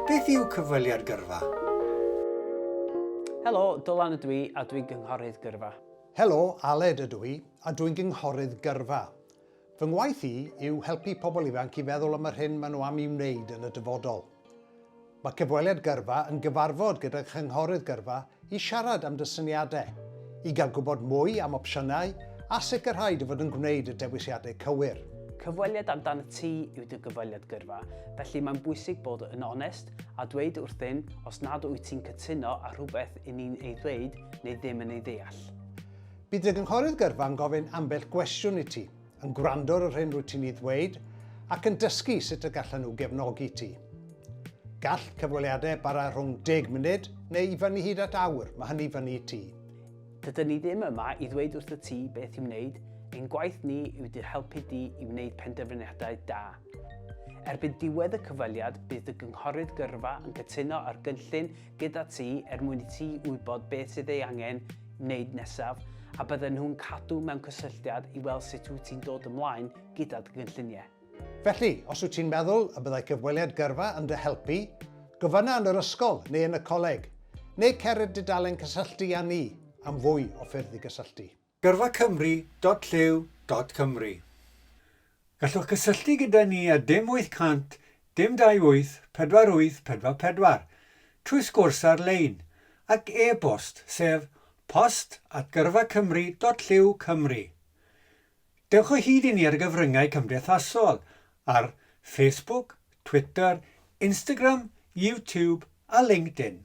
Beth yw cyfweliad gyrfa? Helo, Dylan ydw i a dwi'n gynghorydd gyrfa. Helo, Aled ydw i a dwi'n gynghorydd gyrfa. Fy ngwaith i yw helpu pobl ifanc i feddwl am yr hyn maen nhw am i'w wneud yn y dyfodol. Mae cyfweliad gyrfa yn gyfarfod gyda chynghorydd gyrfa i siarad am dy syniadau, i gael gwybod mwy am opsiynau a sicrhau dy fod yn gwneud y dewisiadau cywir. Cyfweliad amdanat ti yw dy gyfweliad gyrfa, felly mae'n bwysig bod yn onest a dweud wrthyn os nad wyt ti'n cytuno â rhywbeth i ni'n ei ddweud neu ddim yn ei ddeall. Bydd dy gynghorydd gyrfa yn gofyn ambell gwestiwn i ti, yn gwrando ar yr hyn rwyt ti'n ei ddweud ac yn dysgu sut y gallan nhw gefnogi ti. Gall cyfweliadau bara rhwng 10 munud neu i fyny hyd at awr, mae hynny fyny i ti. Dydyn ni ddim yma i ddweud wrth y ti beth i'w wneud, ein gwaith ni yw dy helpu di i wneud penderfyniadau da. Erbyn diwedd y cyfweliad, bydd dy gynghorydd gyrfa yn cytuno ar gynllun gyda ti er mwyn i ti wybod beth sydd ei angen wneud nesaf a bydden nhw'n cadw mewn cysylltiad i weld sut wyt ti'n dod ymlaen gyda dy gynlluniau. Felly, os wyt ti'n meddwl y byddai cyfweliad gyrfa yn dy helpu, gofynna yn yr ysgol neu yn y coleg, neu cer i'r dudalen cysylltu â ni am fwy o ffyrdd i gysylltu. Gyrfacymru dot llyw dot cymru Gallwch gysylltu gyda ni ar dim 800 dim 28 48 44 trwy sgwrs ar-lein ac e-bost sef post at gyrfacymru dot llyw cymru Dewch o hyd i ni ar y gyfryngau cymdeithasol ar Facebook, Twitter, Instagram, YouTube a LinkedIn.